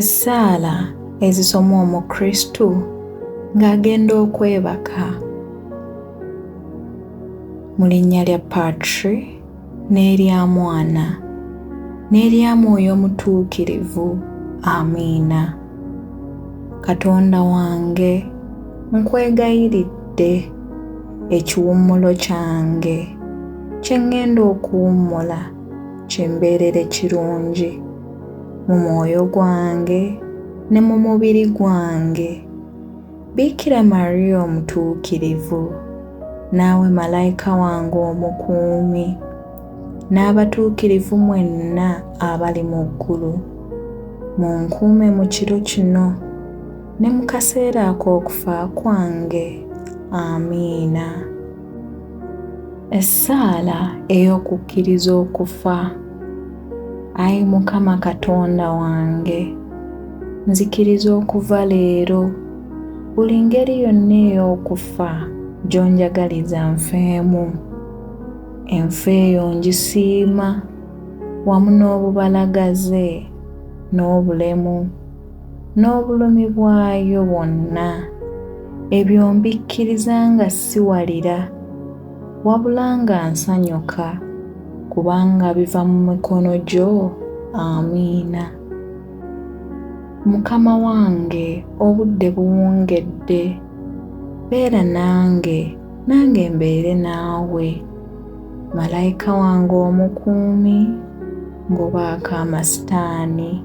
Essaala ezisomwa Omukristu ng'agenda okwebaka mu linnya lya Patri n'erya Mwana n'erya Mwoyo Omutuukirivu. Amiina. Katonda wange nkwegayiridde ekiwummulo kyange kye ŋŋenda okuwummula. kimbeerere kirungi mu mwoyo gwange ne mu mubiri gwange biikira mariya omutuukirivu naawe malayika wange omukuumi n'abatuukirivu mwenna abali mu ggulu mu nkuume mu kiro kino ne mu kaseera ak'okufa kwange amiina Essaala ey'okukkiriza okufa. Ayi Mukama Katonda wange, nzikiriza okuva leero buli ngeri yonna ey'okufa gy'onjagaliza nfeemu. Enfa eyo ngisiima wamu n'obubalagaze n'obulemu n'obulumi bwayo bwonna, ebyo mbikkiriza nga siwalira, wabula nga nsanyuka, kubanga biva mu mikono gyo. Amiina. Mukama wange, obudde buwungedde. Beera nange, nange mbeere naawe. Malayika wange omukuumi, ngobaako amasitaani.